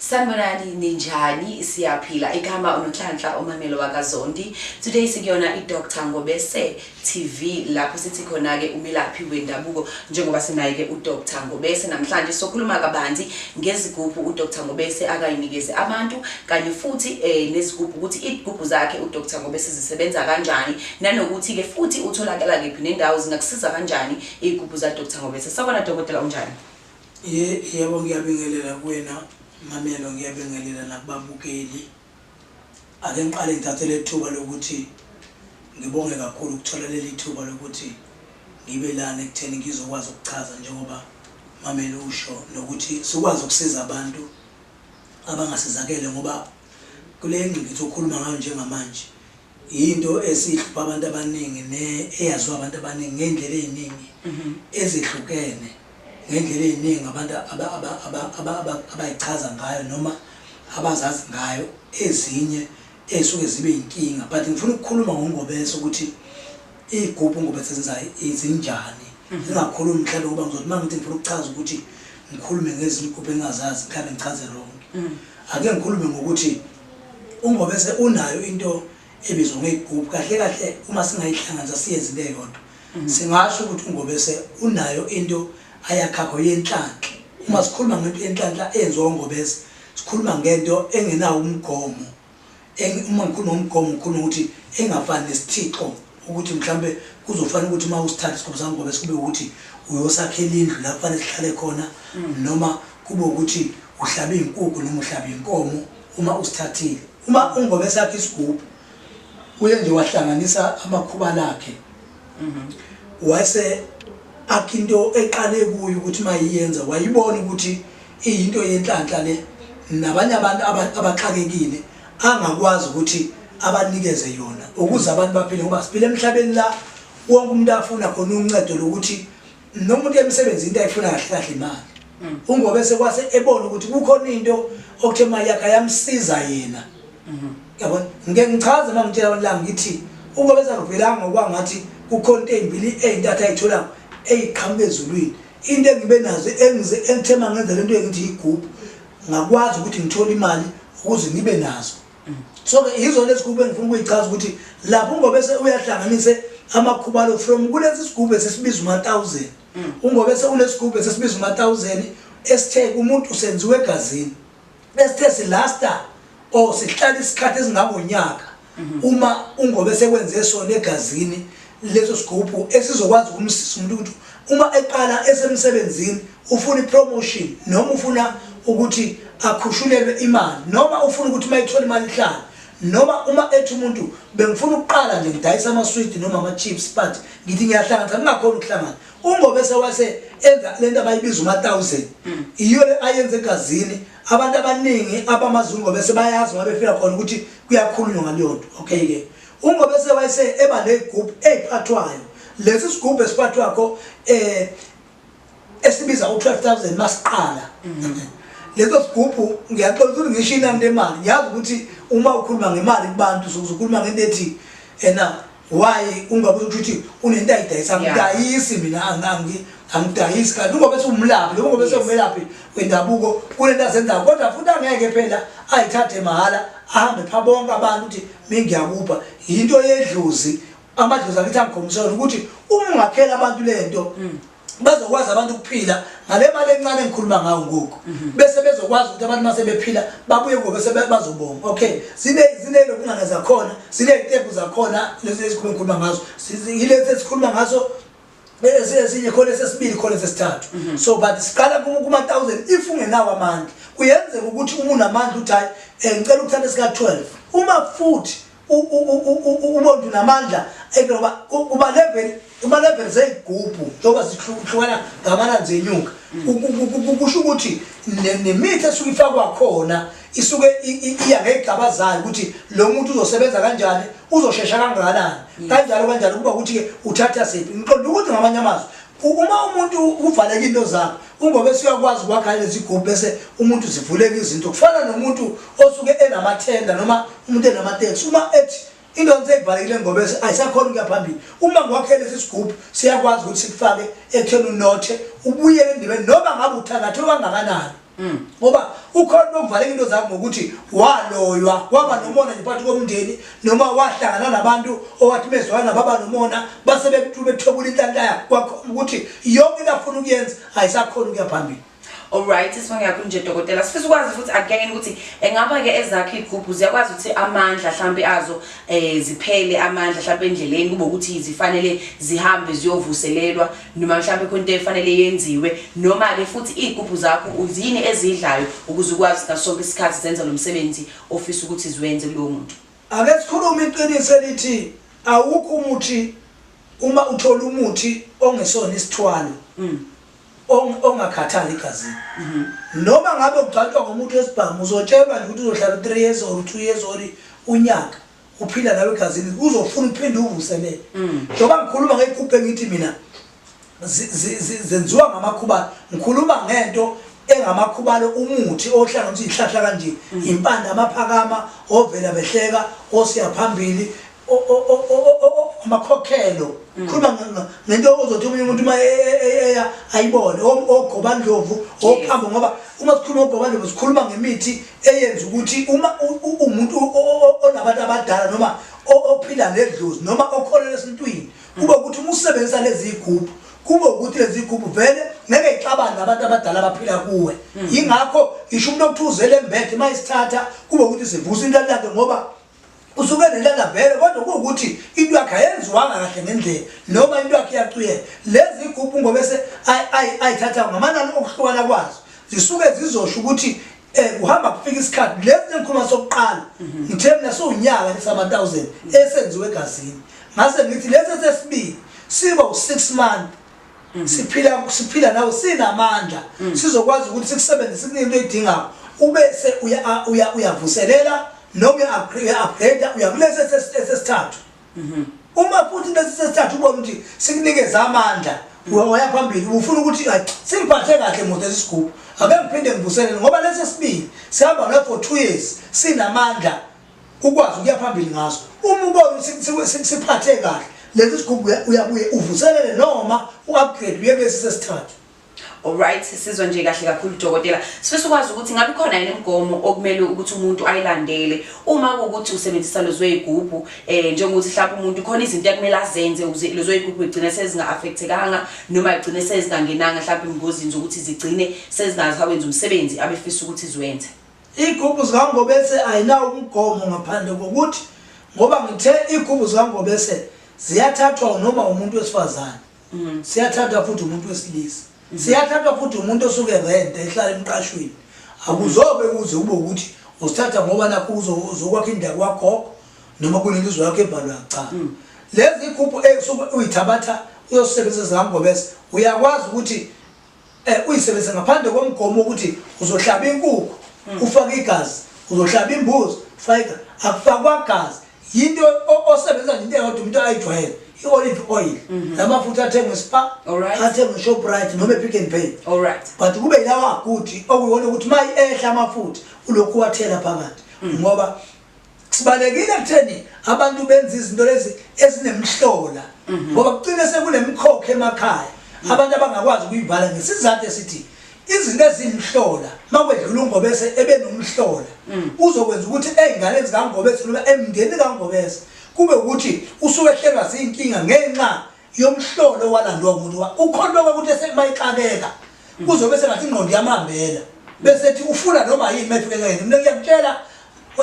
Sanibonani ninjani siyaphila igama uNonhlanhla uMamelo wakaZondi today sikuyona iDr Ngobese TV lapho sithi khona ke umelaphi wendabuko njengoba sinaye ke uDr Ngobese namhlanje sokhuluma kabanzi ngezigubhu uDr Ngobese akayinikeze abantu kanye futhi eh nezigubhu ukuthi izigubhu zakhe uDr Ngobese zisebenza kanjani nanokuthi ke futhi utholakala kephi nendawo zingakusiza kanjani izigubhu zaDr Ngobese sabona dokotela unjani Ye, yebo, ngiyabingelela kuwena, Mamelo, ngiyabingelela nakubabukeli. Ake ngiqale ngithathe lethuba lokuthi ngibonge kakhulu ukuthola lelithuba lokuthi ngibe lana ekutheni ngizokwazi ukuchaza njengoba Mamelo usho nokuthi sikwazi ukusiza abantu abangasizakele ngoba kule ngqikithi okhuluma ngayo njengamanje Yinto esihlupha abantu abaningi ne eyaziwa abantu abaningi ngey'ndlela ey'ningi mhm. ezehlukene ngey'ndlela ey'ningi abantu abayichaza ngayo noma abazazi ngayo ezinye ey'suke zibe yinkinga but ngifuna ukukhuluma ngongobese ukuthi iy'gubhu ungobese zenzayo zinjani mhm. zingakhulumi mhlawumbe ngoba ngizothi uma ngithi ngifuna ukuchaza ukuthi ngikhulume ngezinye igubhu engingazazi mhlawumbe ngichaze ronke mhm. ake ngikhulume ngokuthi UNgobese unayo into ebizwa ngey'gubhu. Kahle kahle uma singayihlanganisa siyenze into eyodwa. Mm. Singasho ukuthi uNgobese unayo into ayakhakho yenhlanhla. Uma sikhuluma ngento yenhlanhla eyenziwa uNgobese, sikhuluma ngento engenawo umgomo. Uma ngikhuluma ngomgomo ngikhuluma ukuthi engafani nesithixo ukuthi mhlambe kuzofanele ukuthi uma usithatha isigubhu sami ngobe sikube ukuthi uyosakhela indlu lapho fanele sihlale khona mm. noma kube ukuthi uhlabe inkukhu noma uhlabe inkomo uma usithathile uma ungobe sakhe isigubhu uye nje wahlanganisa amakhuba lakhe mm-hmm. wase akhe into eqale kuyo ukuthi uma yiyenza wayibona ukuthi iyinto yenhlanhla le nabanye abantu abaxakekile angakwazi ukuthi abanikeze yona ukuze mm. abantu baphile ngoba siphile emhlabeni la wonke umuntu afuna khona uncedo lokuthi nomuntu emsebenzi into ayifuna kahle kahle imali mm. ungobe sekwase ebona ukuthi kukhona into okuthe imali yakhe ayamsiza yena mm-hmm. yabona ngike ngichaze uma ngitshela abantu la ngithi ungobe sakuvelanga okwangathi kukhona into ezimbili ezintathu ayitholayo eyiqhamuka ezulwini into engibe nazo engithema ngenza lento engithi yigubhu ngakwazi ukuthi ngithole imali ukuze ngibe nazo mm. so ke yizo lezi kube ngifuna ukuyichaza ukuthi lapho ngobe se uyahlanganise amakhubalo from kulesi sigubhe sesibiza uma 1000 mm. ungobe se unesigubhe sesibiza uma 1000 esithe kumuntu senziwe egazini esithe silasta or sihlala isikhathi esingangonyaka mhm. uma ungobe sekwenze sona egazini leso sigubhu esizokwazi ukumsiza umuntu ukuthi uma eqala esemsebenzini ufuna ipromotion noma ufuna ukuthi akhushulelwe imali noma ufuna ukuthi uma ethola imali ihlala noma uma ethi umuntu bengifuna ukuqala nje ngidayisa amaswidi noma ama-chips but ngithi ngiyahlanganisa kungakhona ukuhlangana ungobe sewase enza le nto abayibiza uma-thousand mm. yiyo le ayenze egazini abantu abaningi abamazi ungobese bayazi ngoba befika khona ukuthi kuyakhulunywa ngaleyo nto okay ke ungobese wayese eba negroup eziphathwayo lesi sigubhu esiphathwa kho eh esibiza u12000 masiqala mm. leso sigubhu ngiyaxola ukuthi ngisho inani lemali ngiyazi ukuthi uma ukhuluma ngemali kubantu sokuzokhuluma ngento ethi ena why ungabe ukuthi unento ayidayisa ngidayisi mina angangi angidayisi kanti ungobe siwumlaphi lo ungobe sewumelaphi wendabuko kunento azenzayo kodwa futhi angeke phela ayithathe mahhala ahambe pha bonke abantu ukuthi mingiyakupha yinto yedlozi amadlozi akithi angikhombisela ukuthi uma ungakhela abantu lento mm. bazokwazi abantu ukuphila ngale mali encane engikhuluma ngayo ngoku mhm. bese bezokwazi ukuthi abantu mase bephila babuye kubo bese bazobonga okay sine sine lokungana zakhona sine itembu zakhona lezi ezikhuluma ngikhuluma ngazo yilezi esikhuluma ngazo esinye khona sesibili khona sesithathu mhm. so but siqala kuma 1000 if ungenawo amandla kuyenzeka ukuthi umuntu amandla uthi hayi eh, ngicela ukuthatha sika 12 uma futhi umuntu namandla ekuloba kuba level kuba level zeyigubhu njengoba zihlukahlukana ngamananzi enyuka kusho ukuthi nemithi esuke ifakwa khona isuke iya ngeyigaba zayo ukuthi lo muntu uzosebenza kanjani uzoshesha kangakanani kanjalo kanjalo kuba ukuthi-ke uthatha siphi ngiqonda ukuthi ngamanye amazwi Uma umuntu uvaleka into zakhe ungoba esuyakwazi ukwakha lezigubhu bese umuntu zivuleka izinto kufana nomuntu osuke enamathenda noma umuntu enamateksi uma ethi into ngiseyivalekile ngoba ayisakhona ukuya phambili uma ngokwakhele sisigubhu siyakwazi ukuthi sikufake ekutheni unothe ubuyele endibeni noma ngabe uthangathe okangakanani Mm. ngoba ukhona nokuvaleka into zakho ngokuthi waloywa waba nomona nje phakathi komndeni noma wahlangana nabantu owathi bezwana nabo aba nomona base bethobula inhlanhla yakho kwakhomba ukuthi yonke into afuna ukuyenza ayisakhona ukuya phambili alright isibongo yakho nje dokotela sifisa ukwazi futhi again ukuthi engaba ke ezakhe igubhu ziyakwazi ukuthi amandla mhlambe azo eh ziphele amandla mhlambe endleleni kube ukuthi zifanele zihambe ziyovuselelwa noma mhlawumbe khona into efanele yenziwe noma-ke futhi iy'gubhu zakho yini ezidlayo ukuze ukwazi ngaso sonke isikhathi zenza lo msebenzi ofisa ukuthi ziwenze kulowo muntu ake sikhulume iqiniso elithi awukho umuthi uma uthola umuthi ongesona isithwalo mm. ongakhathali igazini mhm. noma ngabe ugcatshwa ngomuntu wesibhamu uzotshelwa nje ukuthi uzohlala u-three years or u-two years or unyaka uphila nawe egazini uzofuna uphinde uvuselele mm. njengoba ngikhuluma ngeyigubhe ngithi mina zenziwa ngamakhubalo ngikhuluma ngento engamakhubalo umuthi ohlanganisa izihlahla kanje mm. impande amaphakama ovela behleka osiya phambili amakhokhelo mm. khuluma ngento ozothi omunye umuntu uma e, e, e, eya ayibone ogobandlovu ophambo ngoba uma sikhuluma ogobandlovu sikhuluma ngemithi eyenza ukuthi uma umuntu onabantu abadala noma ophila nedlozi noma okholelwa esintwini kube ukuthi uma usebenzisa lezi yigubhu kube ukuthi lezi yigubhu vele ngeke ixabane nabantu abadala abaphila kuwe mm. yingakho ngisho umuntu okuthiwa uzele embethe uma isithatha kube ukuthi sivusa into yakhe ngoba usuke nelana vele kodwa kuwukuthi into yakhe ayenziwanga kahle ngendlela noma into yakhe iyacuyela lezi igubhu ngobese ayithatha ngamanani okuhlukana kwazo zisuke zizosho ukuthi eh kuhamba kufika isikhathi lesi ngikhuluma sokuqala mhm. ngithe mina siwunyaka lesama 1000 esenziwe egazini ngase ngithi lesi sesibili siba u6 month Mm. siphila siphila nawe sinamandla mm. sizokwazi ukuthi sikusebenzise into edingayo ubese uya uya uyavuselela noma uya-upgrade uyakulesi esesithathu mm-hmm. uma futhi lesi sesithathu ubona ukuthi sikunikeza amandla mm. waya phambili ufuna ukuthi singiphathe kahle moto esisigubhu ake ngiphinde ngivuselele ngoba lesi esibili sihamba nawe for two years sinamandla ukwazi ukuya phambili ngaso uma ubona siphathe kahle lesi sigubhu uyabuye uvuselele noma u-upgrade uye kulesi sesithathu Alright sizwe nje kahle kakhulu dokotela sifisa ukwazi ukuthi ngabe khona yini imigomo okumele ukuthi umuntu ayilandele uma ukuthi usebenzisa lezo igubhu eh njengokuthi mhlawumbe umuntu khona izinto ekumele azenze ukuze lezo igubhu igcine sezinga affectekanga noma igcine sezingangenanga mhlawumbe ingozini zokuthi zigcine sezingazawenza umsebenzi abefisa ukuthi ziwenze Igubu zikaNgobese ayinawo umgomo ngaphandle kokuthi ngoba ngithe igubu zikaNgobese ziyathathwa noma umuntu wesifazane. Mm. Siyathatha futhi umuntu wesilisa. Mm-hmm. Siyathatha futhi umuntu osuke rent ehlala emqashweni. Akuzobe kuze kube ukuthi usithatha ngoba nakho uzokwakha indawo kwagogo noma kunelizwe yakho ebhalwa cha. Mm. Lezi igubu esuke uyithabatha uyosebenzisa zikaNgobese uyakwazi ukuthi Eh uyisebenzisa ngaphandle komgomo ukuthi uzohlaba inkukhu hmm. ufake igazi, uzohlaba imbuzi ufake igazi. Akufakwa gazi. Yinto osebenza nje into eyodwa umuntu ayijwayele. i-olive oil mhm. namafutha athengwe spa athengwe shoprite noma epick and pay but kube yilawa aguti okuyiwona ukuthi uma ehla amafutha ulokhu wathela phakathi mhm. ngoba Sibalekile kutheni abantu benza izinto lezi ezinemhlola mhm. ngoba kucine sekunemkhokhe emakhaya mhm. abantu abangakwazi ukuyivala ngesizathu esithi izinto ezimhlola makwedlula ungobese ebenomhlola mhm. uzokwenza ukuthi ezingane zikangobese noma emndeni kangobese kube ukuthi usuwehlelwa zinkinga ngenxa yomhlolo walandwa umuntu wa ukholwa ukuthi esema ixakeka kuzobe sengathi ingqondo yamambela bese ethi ufuna noma yini mefike ngene mina ngiyakutshela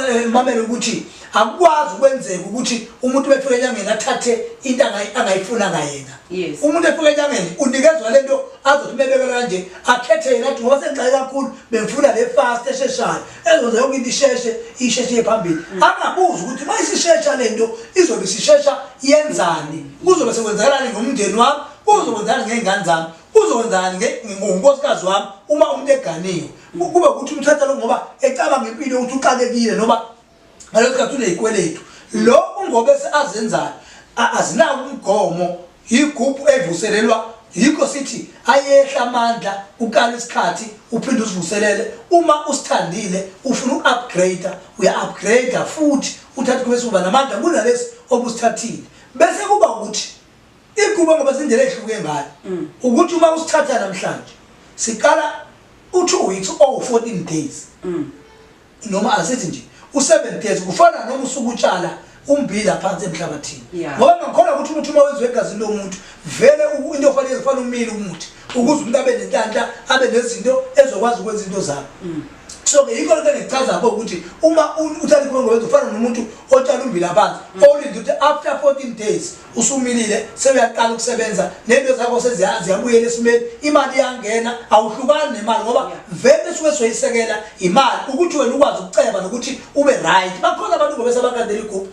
eh, mamela ukuthi akukwazi ukwenzeka ukuthi umuntu befike enyangeni athathe into angayifuna ngayena umuntu efike enyangeni unikezwa le nto azothi mebekela kanje akhethe yena athi ngoba sengixaye kakhulu bengifuna le fast esheshayo ezoze yonke into isheshe isheshe iye phambili mm. angabuzi ukuthi uma isishesha le nto izobe isishesha yenzani kuzobe sekwenzakalani ngomndeni wami kuzokwenzakalani ngey'ngane zami kuzokwenzakalani ngonkosikazi wami uma umuntu eganiwe kube ukuthi umthatha lo ngoba ecabanga impilo ukuthi uxakekile noma ngaleso sikhathi unezikweletu lo ungobe azenzayo azinawo umgomo yigubhu evuselelwa yikho sithi ayehla amandla ukala isikhathi uphinde usivuselele uma usithandile ufuna uku-upgrade uya-upgrade futhi uthathe kube suba namandla kunalesi obusithathile bese kuba ukuthi iguba ngoba zindlela ehluke ngayo mm. ukuthi uma usithatha namhlanje siqala u-two weeks owu-fourteen days mm. noma asithi nje u-seven days kufana noma usuke utshala umbila phansi emhlabathini Yeah. ngoba ngakholwa ukuthi umuthi uma wenziwe egazini lomuntu vele u- into ofanele kufanele umile umuthi ukuze umuntu abe nenhlanhla abe nezinto ezokwazi ukwenza into zakho so-ke yikho lento engichaza-ko ukuthi uma u- utshale ikhongowenza ufana nomuntu otshala umbila phansi olinde ukuthi after 14 days usumilile sewuyaqala ukusebenza nento zakho seziyabuyela esimeni imali iyangena awuhlukani nemali ngoba vele suke soyisekela imali ukuthi wena ukwazi ukuceba nokuthi ube right bakhona abantu ngobe sabakandela igubhu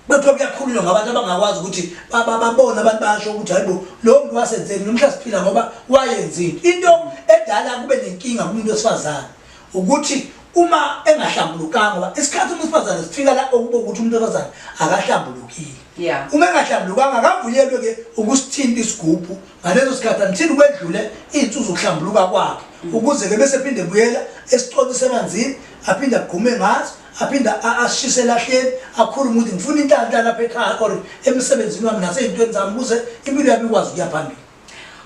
kuthiwa kuyakhulunywa ngabantu abangakwazi ukuthi babone abantu basho ukuthi hayibo lo muntu wasenzeni nomhla siphila ngoba wayenzini into edala kube nenkinga kumuntu wesifazane ukuthi uma engahlambulukanga ngoba isikhathi umuntu wesifazane sifika la okuba ukuthi umuntu wesifazane akahlambulukile yeah. uma engahlambulukanga akavunyelwe ke ukusithinta isigubhu ngaleso sikhathi anithini kwedlule iy'nsuku zokuhlambuluka kwakhe mm. ukuze ke bese phinde buyela esicoci semanzini aphinde agqume ngazo aphinde ashise elahleni akhulu ukuthi ngifuna intanhla lapha ekhaya or emsebenzini wami nasey'ntweni zami ukuze impilo yami ikwazi ukuya phambili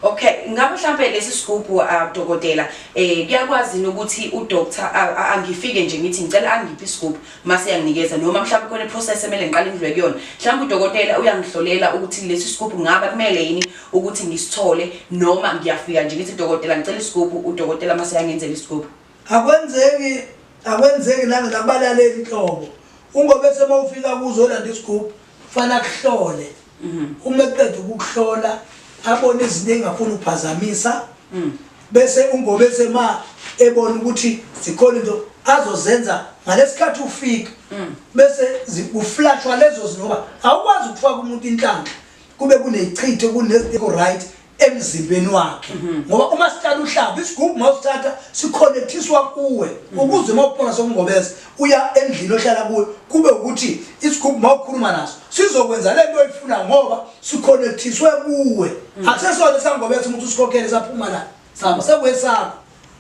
Okay, ngabe mhlambe lesi sigubhu uh, dokotela eh kuyakwazi ukuthi u doctor uh, angifike nje ngithi ngicela angiphi isigubhu mase yanginikeza noma mhlambe kone process emele ngiqale ngidlwe kuyona. Mhlambe udokotela uyangihlolela ukuthi lesi sigubhu ngaba kumele yini ukuthi ngisithole noma ngiyafika nje ngithi dokotela ngicela isigubhu udokotela mase yangenzela isigubhu. Akwenzeki akwenzeki nanga nabalaleli inhlobo. Ungobe sema ufika kuzolanda isigubhu Fana kuhlole. Mhm. Uma eqeda ukuhlola abone izinto engafuni uphazamisa. Mhm. Bese ungobe sema ebona ukuthi zikhona into azozenza ngalesikhathi ufika. Mhm. Bese uflashwa lezo zinoba awukwazi ukufaka umuntu inhlanhla. Kube kunechitho kune right emzimbeni wakhe mhm. ngoba uma sithatha uhlaba isigubhu mawusithatha siconnectiswa kuwe mhm. ukuze mawuphona sokungobeza uya endlini ohlala kuyo kube ukuthi isigubhu mawukhuluma naso sizokwenza lento oyifuna ngoba siconnectiswe kuwe mhm. akusesona sangobeza umuntu usikhokhele saphuma la sihamba sekwesakho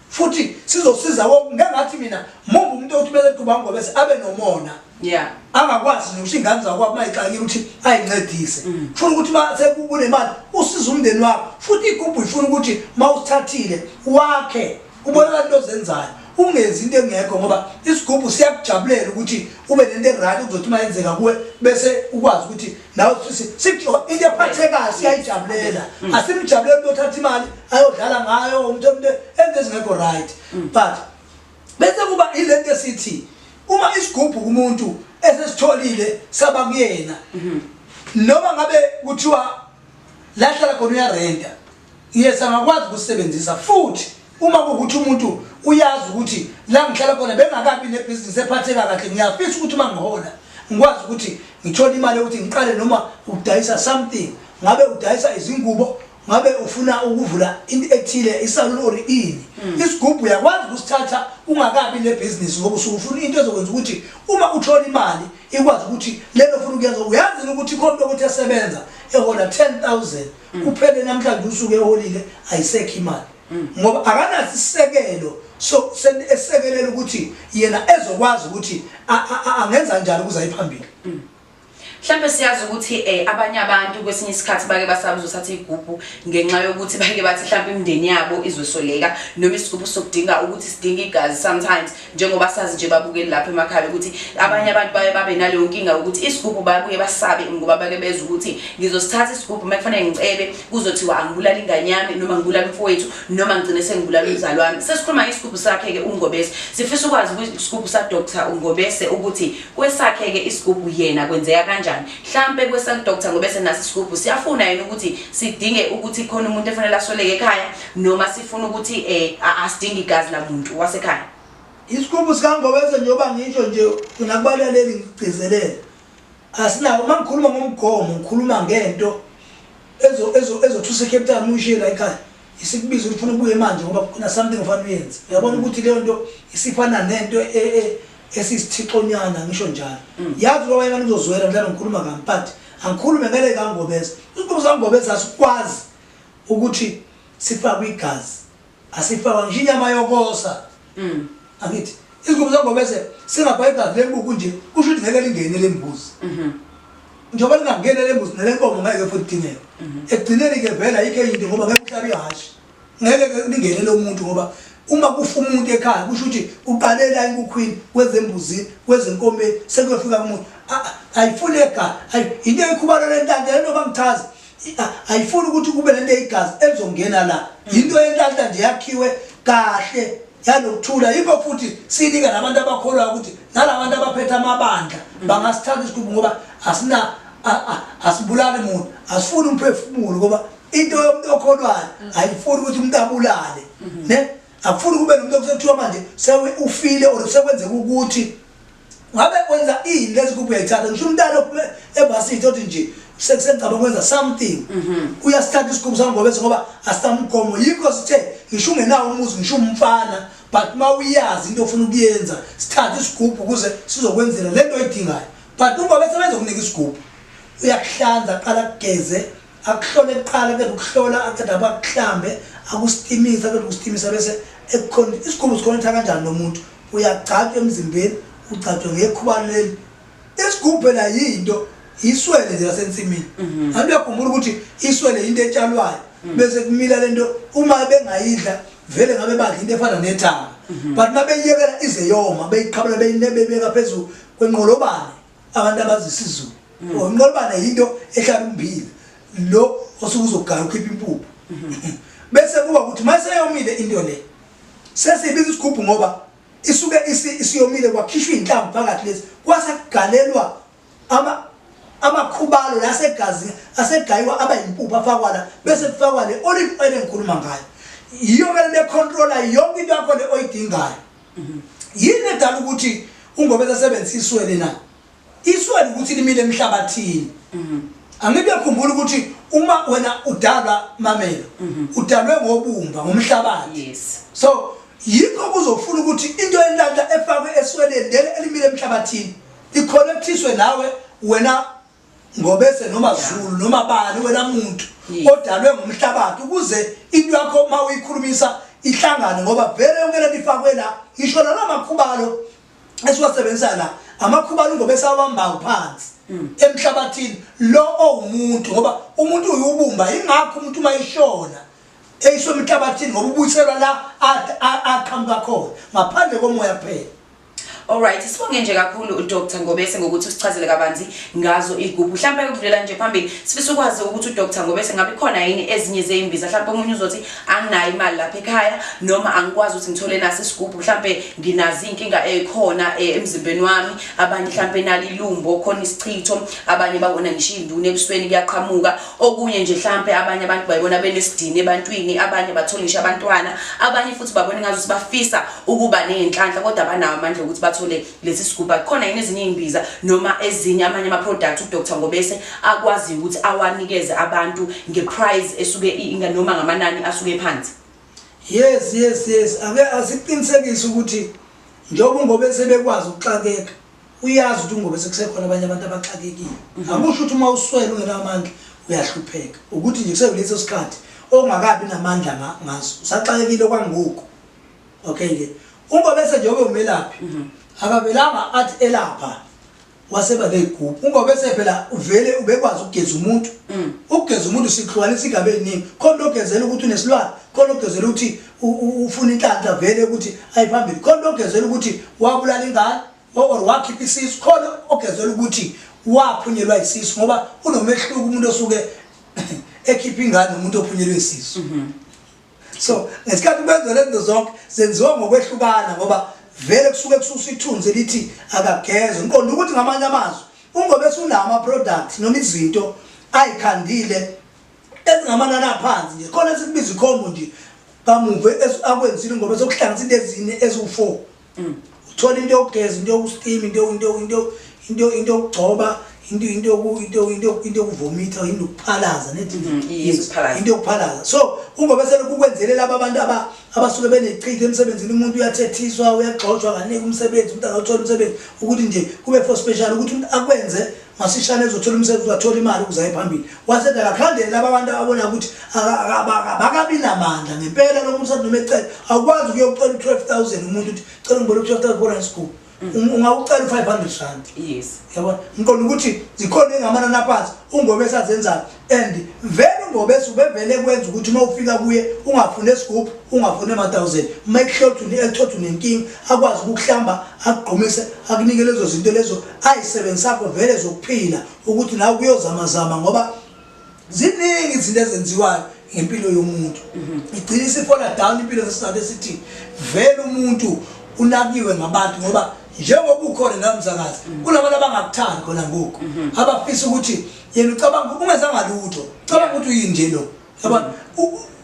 futhi sizosiza wonke ngengathi mina mumbe umuntu othi bese kuba ngoba bese abe nomona yeah angakwazi nje ukuthi ingane zakho abayixakile ukuthi ayincedise mm. funa ukuthi mase kunemali usiza umndeni wakho futhi igubhu ifuna ukuthi mawusithathile wakhe ubona abantu ozenzayo ungenzi into engekho ngoba isigubhu siyakujabulela ukuthi ube nento eryt kuzothi uma yenzeka kuwe bese ukwazi ukuthi nawe iyaphatheka siyayijabulela mm. asimjabuleli umuntu othatha imali ayodlala ngayo umuntu omntu enze ezingekho right mm. but bese kuba ilento esithi uma isigubhu kumuntu esesitholile saba kuyena mm-hmm. noma ngabe kuthiwa lahlala khona uyarenta Yes angakwazi ukusebenzisa futhi uma kukuthi umuntu uyazi ukuthi la ngihlala khona bengakabi nebhizinisi ephatheka kahle ngiyafisa ukuthi uma ngihola ngikwazi ukuthi ngithole imali yokuthi ngiqale noma ukudayisa something ngabe udayisa izingubo ngabe ufuna ukuvula into ethile isalon or ini hmm. isigubhu uyakwazi ukusithatha ungakabi nebhizinisi ngoba usufuna into ezokwenza ukuthi uma uthola imali ikwazi ukuthi lelo funa ukuyenza uyazi ukuthi khona ukuthi esebenza ehola 10000 mm. kuphele namhlanje usuke eholile ayisekho imali mm. ngoba akanaso isisekelo so esekelela ukuthi yena ezokwazi ukuthi angenza njani ukuze ayiphambili mm. mhlawumbe siyazi ukuthi eh abanye abantu kwesinye isikhathi bake basabuza uthatha igubhu ngenxa yokuthi bake bathi mhlawumbe imindeni yabo izwesoleka noma isigubhu sokudinga ukuthi sidinga igazi sometimes njengoba sazi nje babukeli lapha emakhaya ukuthi abanye abantu baye babe naleyo nkinga yokuthi isigubhu babuye basabe ngoba bake beza ukuthi ngizosithatha isigubhu uma kufanele ngicebe kuzothiwa angibulala ingane yami noma ngibulala umfowethu noma ngigcine sengibulala umzali wami sesikhuluma isigubhu sakhe-ke ungobese sifisa ukwazi isigubhu sadr ungobese ukuthi kwesakhe-ke isigubhu yena kwenzeka kanjani mhlampe kwesakudr ngobese naso isigubhu siyafuna yena ukuthi sidinge ukuthi khona umuntu efanele asoleke ekhaya noma sifuna ukuthi eh asidingi igazi lamuntu wasekhaya isikhumbu sikangobese njengoba ngisho nje mina kubalaleli ngigcizelele asinawo uma ngikhuluma ngomgomo ngikhuluma ngento ezothusa ecape town uyishiye la ekhaya isikubiza ukuthi funa ubuye manje ngoba kuna something ofana uyenze uyabona mm. ukuthi leyo nto isifana nento e, e, esisithixonyana ngisho njalo mm. yazi loba yena ngizozwela mhlawumbe ngikhuluma kamphathi angikhulume ngeke kangobese isikhumbu sangobese asikwazi ukuthi sifakwe igazi asifakwa ngisho inyama yokosa mm. angithi izingubo zangobese singabha igazi lembuku nje kusho ukuthi ngeke lingene lembuzi mhm. njengoba lingangene lembuzi nelenkomo ngeke futhi dingeke mhm. ekugcineni ke vela yikho into ngoba ngeke uhlabe ihhashi ngeke lingene lo muntu ngoba uma kufa umuntu ekhaya kusho ukuthi uqalela inkukhwini kwezembuzini kwezenkomeni sekuyofika kumuntu ayifuni ekhaya into eyikhubalo lentande lento bangichaza ayifuni ukuthi kube lento eyigazi elizongena la yinto yenhlanhla nje yakhiwe kahle yalokuthula yikho futhi sinika nabantu abakholwa ukuthi nalabantu abaphethe amabandla bangasithatha isiqubu ngoba asina asibulali muntu asifuni umphefumulo ngoba into yomuntu okholwayo ayifuni ukuthi umuntu abulale ne akufuni kube nomuntu okuthiwa manje sewe ufile or sekwenzeka ukuthi ngabe kwenza ini lezi kubu uyayithatha ngisho umntana ophume ebhasini othi nje sekusengicaba kwenza something mhm. uyasithatha isigqubu sami ngobese ngoba asamgomo yikho sithe ngisho ungenawo umuzi ngisho umfana but uma uyazi into ofuna ukuyenza sithathe isigubhu ukuze sizokwenzela le nto oyidingayo but ungobese bezokunika isigubhu uyakuhlanza qala kugeze akuhlole kuqala ke ukuhlola aqeda bakuhlambe akustimisa ke ukustimisa bese ekukhona isikhumbu sikhonetha kanjani lomuntu uyagcatshwa emzimbeni ugcatshwa ngekhubani leli isigubhe la yinto iswele nje lasensimini mhm. ngabe uyakhumbula ukuthi iswele into etshalwayo mhm. bese kumila lento uma bengayidla vele ngabe badla into efana nethanga mhm. but mabeyiyekela ize yoma beyiqhabula beyinebebeka phezulu kwenqolobane abantu abazi isizulu mm. oh, inqolobane yinto ehlala umbili lo osuke uzogaya ukhipha impuphu mm-hmm. bese kuba ukuthi uma seyomile into le sesibiza isigubhu ngoba isuke isiyomile kwakhishwa iy'nhlamvu phakathi lezi kwase kugalelwa amakhubalo la asegazini asegayiwa aba yimpuphu afakwa la bese kufakwa le olive oil engikhuluma ngayo yiyo kumele bekhontrola yonke into yakho le oyidingayo Yini edala ukuthi ungobeza sebenzisa iswele na? Iswele ukuthi limile emhlabathini. Mhm. Angibe khumbula ukuthi uma wena udalwa mamela mhm. udalwe ngobumba ngomhlabathi. Yes. So yikho kuzofuna ukuthi into elanda efakwe esweleni leli elimile emhlabathini ikhonektiswe nawe wena ngobese noma zulu noma bani wena muntu odalwe ngumhlabathi ukuze into yakho uma uyikhulumisa ihlangane ngoba vele yonke lento ifakwe la isho lana makhubalo esiwasebenzisa la amakhubalo ngobese awambayo phansi mm. emhlabathini lo owumuntu ngoba umuntu uyubumba ingakho umuntu uma ishona eyiswa emhlabathini ngoba ubuyiselwa la aqhamuka khona ngaphandle komoya kuphela Alright, sibonge nje kakhulu uDr Ngobese ngokuthi usichazele kabanzi ngazo igubhu. Mhlawumbe ukudlulela nje phambili sifisa ukwazi ukuthi uDr Ngobese ngabe khona yini ezinye zeimbiza. Mhlawumbe umunye uzothi anginayo imali lapha ekhaya noma angikwazi ukuthi ngithole nasi isigubhu. Mhlawumbe nginazi inkinga ekhona eh, emzimbeni wami. Abanye mhlawumbe nalilumbo khona isichitho, abanye babona ngisho induna ebusweni kuyaqhamuka. okunye nje mhlampe abanye abantu bayibona benesidini ebantwini abanye bathola ngisho abantwana abanye futhi babona ngazuthi bafisa ukuba nezinhlanhla kodwa banawo amandla ukuthi bathole lesi siguba khona yini ezinye izimbiza noma ezinye amanye ama products uDr Ngobese akwazi ukuthi awanikeze abantu ngeprice esuke inga noma ngamanani asuke phansi yes yes yes ake asiqinisekise ukuthi njengoba Ngobese bekwazi ukuxakeka uyazi ukuthi ungobe sekusekhona abanye abantu abaxakekile mhm. akusho ukuthi uma uswele ungenamandla uyahlupheka ukuthi nje kusekuleso sikhathi ongakabi namandla ngaso usaxakekile okwangoku okay ke uma bese nje ube umelaphi mhm. akabelanga athi elapha waseba leyigubhu uma bese phela uvele ubekwazi ukugeza umuntu mm. ukugeza umuntu sihlukanisa igabe eziningi khona ogezela ukuthi unesilwane khona ogezela ukuthi ufuna inhlanhla vele ukuthi ayiphambili khona ogezela ukuthi wabulala ingane or wakhipha isisu khona ogezela ukuthi waphunyelwa isisu ngoba unomehluko umuntu osuke ekhipha ingane nomuntu ophunyelwe isisu mhm. so ngesikhathi benza lento zonke zenziwa ngokwehlukana ngoba vele kusuke kususa ithunzi elithi akageze ngiqonda ukuthi ngamanye amazwi ungobe sunama products noma izinto ayikhandile ezingamanani aphansi nje khona sikubiza ikhombo nje kamuva akwenzile ngoba sokuhlanganisa into ezine eziwu-four mm. uthola into yokugeza into yokustima into yokugcoba into yokuvomitha into yokuphalaza mm, into yokuphalaza so ungobe selokhukwenzele laba abantu abasuke benechitha emsebenzini umuntu uyathethiswa uyagxotshwa kaningi umsebenzi umuntu angathola umsebenzi ukuthi nje kube for special ukuthi umuntu akwenze masishane ezothola umsebenzi uzathola imali ukuze aye phambili wasedala khandele laba bantu ababona ukuthi abakabi namandla ngempela lo muntu noma ecela awukwazi ukuyocela u-twelve thousand umuntu ukuthi cela ngibona u-twelve thousand bona school mm. um, ungawucela u-five hundred rand yes yabona ngiqonda ukuthi zikhona engamanani aphansi ungobe esazenzayo and vele ungobese ubevele kwenza ukuthi uma ufika kuye ungafune esigubhu ungafune ama-thousand uma ekuhlothu ekuthothu nenkinga akwazi ukukuhlamba akugqumise akunike lezo zinto lezo ayisebenzisakho vele zokuphila ukuthi nawe kuyozamazama ngoba ziningi izinto ezenziwayo ngempilo yomuntu mhm. igcina isifola down impilo ngesizathu esithi vele umuntu unakiwe ngabantu ngoba njengoba ukhona namzakazi mhm. kunabantu abangakuthandi khona ngoku mhm. abafisa ukuthi yena ucabanga ungezanga lutho ucabanga ukuthi uyinje lo yabona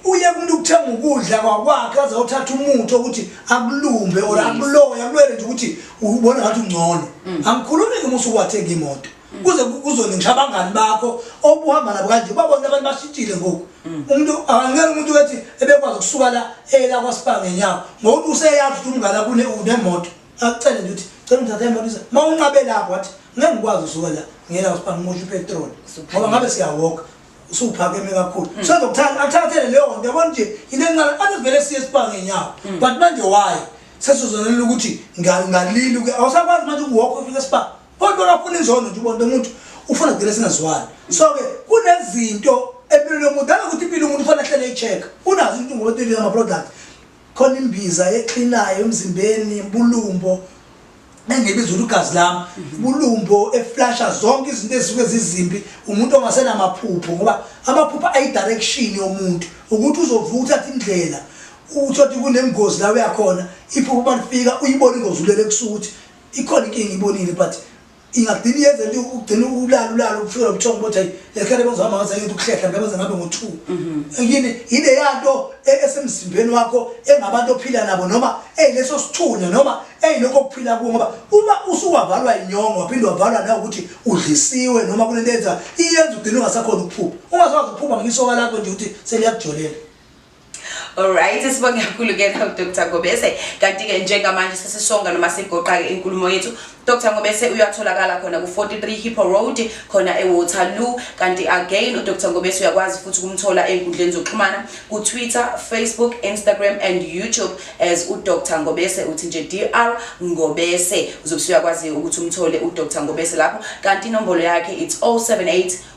uye kumuntu ukuthenga ukudla kwakwakhe aze othatha umuthi ukuthi akulumbe or akuloye akulwele nje ukuthi ubona ngathi ungcono mm. angikhulumi ngomusa ukwathenga imoto mm. kuze kuzone ngisho abangani bakho obuhamba nabo kanje babona abantu bashitshile ngoku mm. umuntu angeke umuntu wethi ebekwazi ukusuka la eyela kwasipha ngenyawo ngokuthi useyazi ukuthi umngane kune unemoto akucele nje uthi cela ungithathe emalisa uma unqabe lapho wathi ngeke ngikwazi usuka la ngiyela usipa ngimusha upetrol ngoba ngabe siyawoka usuphakeme kakhulu mm. so ndokuthanda athathele leyo nto yabona nje into encane ade vele siye sipa ngenyawo mm. but manje waye sesizonela ukuthi ngalili uke awusakwazi manje ukuwokha ufike sipa kodwa kafuna izono nje ubona umuntu ufuna kugcina singazwani so-ke kunezinto empilweni yomuntu ake ukuthi impilo yomuntu ufana hlele i-check unazo into ngoba into amaproduct Khona imbiza exhinayo emzimbeni bulumbo engibiza ukuthi ugazi lami bulumbo eflasha zonke izinto ezisuke zizimbi umuntu ongasenamaphupho ngoba amaphupho ayidirection yomuntu ukuthi uzovuka uthathe indlela uthothi kunengozi la uyakhona iphupho balifika uyibona ingozi ulele kusukuthi ikhona inkinga ibonile but ingagcina iyenze nje ugcina ulala ulala ufika ubuthongo ukuthi hayi lekhele bazohamba ngaze ngithi ukuhlehla ngabe ze ngabe ngo2 mhm. yini yile yanto e, esemzimbeni wakho engabantu ophila nabo noma eyileso sithunya noma eyilokho okuphila kuwo ngoba uma usuwavalwa inyongo waphinde wavalwa na ukuthi udlisiwe noma kunento enza iyenza ugcina ungasakhona ukuphupha ungasazi ukuphupha ngisoka lakho nje ukuthi seliyakujolela Alright sibonge kakhulu ke nawe Dr Ngobese kanti ke njengamanje sesisonga noma sigoqa ke inkulumo yethu Dr Ngobese uyatholakala khona ku 43 Hippo Road khona e Waterloo kanti again u Dr Ngobese uyakwazi futhi kumthola enkundleni zokuxhumana ku Twitter, Facebook, Instagram and YouTube as u Dr Ngobese uthi nje DR Ngobese uzobe uyakwazi ukuthi umthole u Dr Ngobese lapho kanti inombolo yakhe it's 078